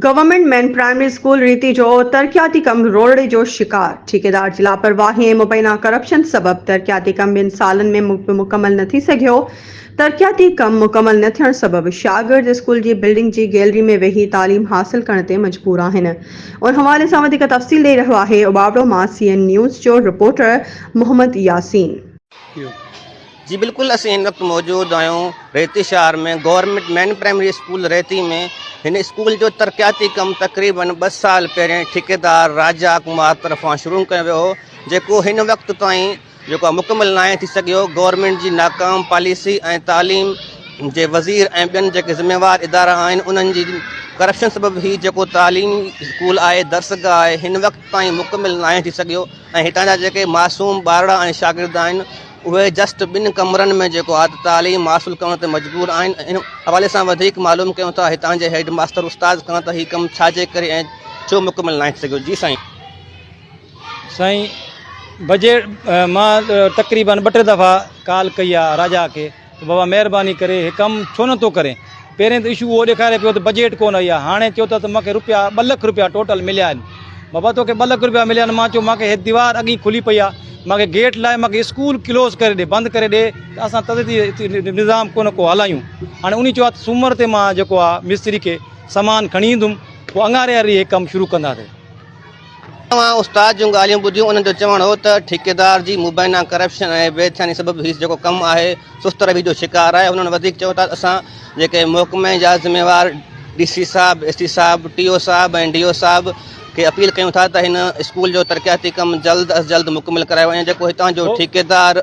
Government main primary school Reti جو ترقياتي ڪم روڙڙي جو شڪار، ٺيڪيدار جي لاپرواهي ۽ مبينا ڪرپشن سبب ترقياتي ڪم ٻن سالن ۾ مڪمل نه ٿي سگهيو، ترقياتي ڪم مڪمل نه ٿيڻ سبب شاگرد اسڪول جي بلڊنگ جي گيلري ۾ ويهي تعليم حاصل ڪرڻ تي مجبور آهن ان حوالي سان وڌيڪ تفصيل ڏئي رهيو آهي عبابڙو مان سي اين نيوز جو رپورٽر محمد ياسين. جي بلڪل اسين هن وقت موجود آهيون ريتي شهر ۾ government main primary school Reti ۾ هن اسڪول جو ترقياتي ڪم تقريبن ٻه سال پهرين ٺيڪيدار راجا ڪمار طرفان شروع ڪيو ويو هو جيڪو هن وقت تائين جيڪو مڪمل ناهي ٿي سگهيو گورنمينٽ جي ناڪام پاليسي ۽ تعليم جي وزير ۽ ٻين جيڪي ذميوار ادارا آهن انهن جي ڪرپشن سبب هي جيڪو تعليم اسڪول آهي درسگاهه آهي هن وقت تائين مڪمل ناهي ٿي سگهيو ۽ هتان جا جيڪي معصوم ٻارڙا ۽ شاگرد آهن اهي جسٽ ٻن ڪمرن ۾ جيڪو اعلي تعليم حاصل ڪرڻ تي مجبور آهن ان حوالي سان وڌيڪ معلوم ڪيون ٿا هتان جي هيڊ ماستر استاد کان ته هي ڪم ڇاجي ڪري ۽ ڇو مڪمل ناهي ٿي سگهيو جي سائين سائين بجيٽ مان تقريبن ٻه ٽي دفعا ڪال ڪئي آهي راجا کي ته بابا مهرباني ڪري هي ڪم ڇو نه ٿو ڪرين پهرين ته اشو اهو ڏيکاري پيو ته بجيٽ ڪونه هئي ها هاڻي چئو ٿا ته مونکي روپيا ٻه لک روپيا ٽوٽل مليا آهن بابا توکي ٻه لک روپيا مليا آهن مان چيو مونکي هي ديوار اڳ ئي کلي پئي آهي مونکي گيٽ لاهي مونکي اسڪول ڪلوز ڪري ڏي بند ڪري ڏي ته اسان تدريجي نظام ڪو نه ڪو هلايون هاڻي انهي چيو آهي ته سومر تي مان جيڪو آهي مستري کي سامان کڻي ايندم پوء اڱاري هاري هي ڪم شروع ڪنداسين اوهان استاد جون ڳالهيون ٻڌيون، انهن جو چوڻ هو ته ٺيڪيدار جي مبينا ڪرپشن ۽ بي ڌياني سبب هي جيڪو ڪم آهي سست رويي جو شڪار آهي، هنن وڌيڪ چيو ته اسان جيڪي محڪمي جا ذميوار ڊي سي صاحب، ايس ڊي صاحب، ٽي او صاحب ۽ ڊي او صاحب کي اپيل ڪيون ٿا ته هن اسڪول جو ترقياتي ڪم جلد از جلد مڪمل ڪرايو وڃي جيڪو هتان جو ٺيڪيدار